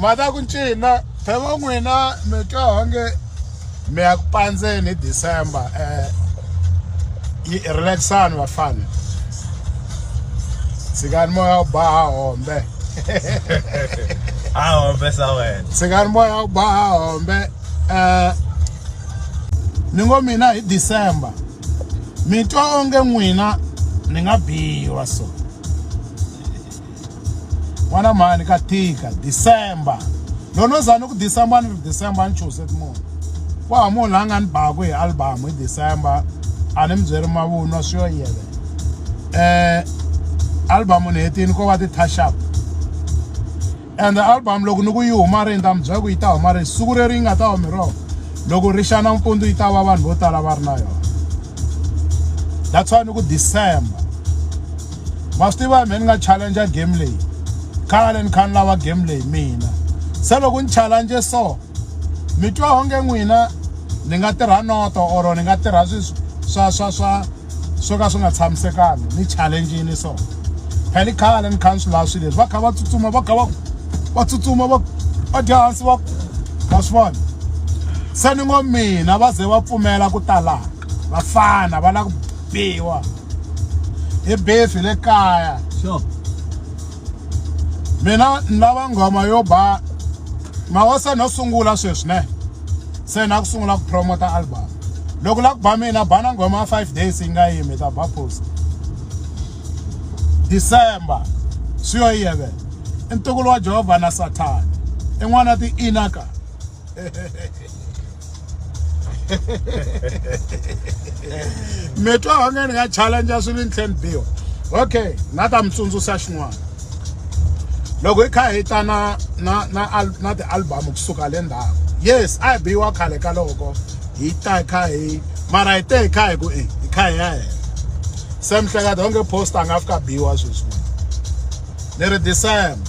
ma ta ku ncina pheva n'wina mi twa onge mi ya ku pandzeni hi december um yi relaxani vafana tshikani moya wu ba ha hombe ha hombe sa wena tshikani moya wu ba ha hombe um ni ngo mina hi december mi twa onge n'wina ni nga biwa so Wana mhani ka tika December. Loko no za ni ku December ni ri December ni choose munhu. Wa ha munhu la nga ni baku hi album hi December a ni mi byeri mavunwa swi yo yele. Eh album ni hetini ko va ti touch up. And album loko ni ku yi huma ri ta mi byela ku yi ta huma ri siku leri yi nga ta humi rona. Loko ri xana mpundzu yi ta va vanhu vo tala va ri na yona. That's why ni ku December. ma swi tiva me ni nga challenge game leyi khale ni kha ni lava game leyi mina se loko ni challenge so mi twa onge n'wina ni nga tirha noto or ni nga tirha swa swa swa swo ka swi nga tshamisekanga ni challengini so phela i khale ni kha ni swi lava swilo leswi va kha va tsutsuma va kha va va tsutsuma va va dya hansi va va swi vona se ni ngo mina va ze va pfumela ku talaka vafana va lava ku biwa hi beef le kaya sure mina ni lava nghoma yo ba mawa se no sungula sweswi ne se na ku sungula ku promota album loko la ku ba mina bana nghoma ya five days yi nga yimi ta ba post december swi yo yevela i ntukulu wa jehovha na sathana i n'wana ti-inaka mi twa onge ni nga challenge swilo ni tlhela ni biwa okay na ta mi tsundzuxa xin'wana loko hi kha hi ta na na na na ti-album kusuka le ndhawu yes a hi biwa khale ka loko hi ta hi kha hi mara hi te hi kha hi ku e hi kha hi ya hela se mihleketa onge post a nga fika biwa sweswi ni ri december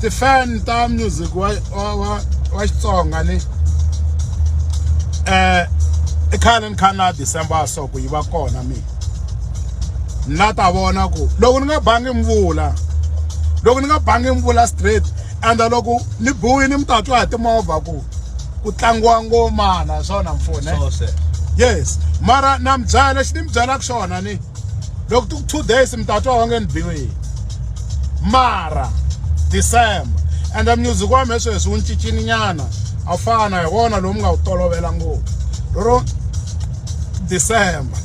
tifan ta music wa wa wa wa Xitsonga ni eh i khale ni kha na December so ku yi va kona mina na ta vona ku loko ni nga bangi mvula loko ni nga bangi mvula straight and loko ni buyi ni mi ta twa hi timovha ku ku tlangiwa ngomana swona mpfune yes mara na mi byala xi ni mi byalaka xona ni loko ti ku two days mi ta twa va nge ni biwile mara december ende music wa mina sweswi wu ni cincini nyana a fana hi wona lowu mi nga wu tolovela ngopfu lero december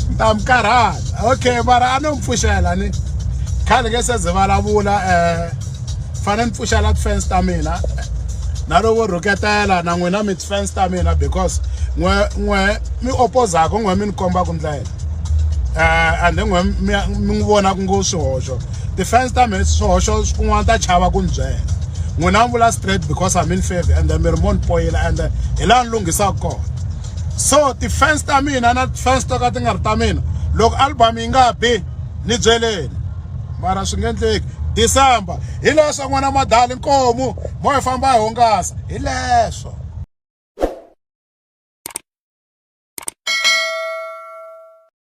ni ta mi karhata okay mara a no mi pfuxela ni khale nge se ze vulavula um fanele ni pfuxela tifense ta mina na loko rhuketela na n'wina mi tifense ta mina because n'we n'we mi opozaka n'we mi ni kombaka ndlela um and n'we mi n'wi vonaka ngo swihoxo tifense ta mina swihoxo kun'wana ta chava ku ni byela n'wina mi vula straight because i'm in favor and mi ri mo ni poyela and hi laha ni lunghisaka kona so tifense ta mina na tifense to ka ti nga ri ta mina loko album yi nga bi ni byeleni mara swi nga endleki december hi leswo n'wana madali nkomu mo hi famba hi hungasa hi leswo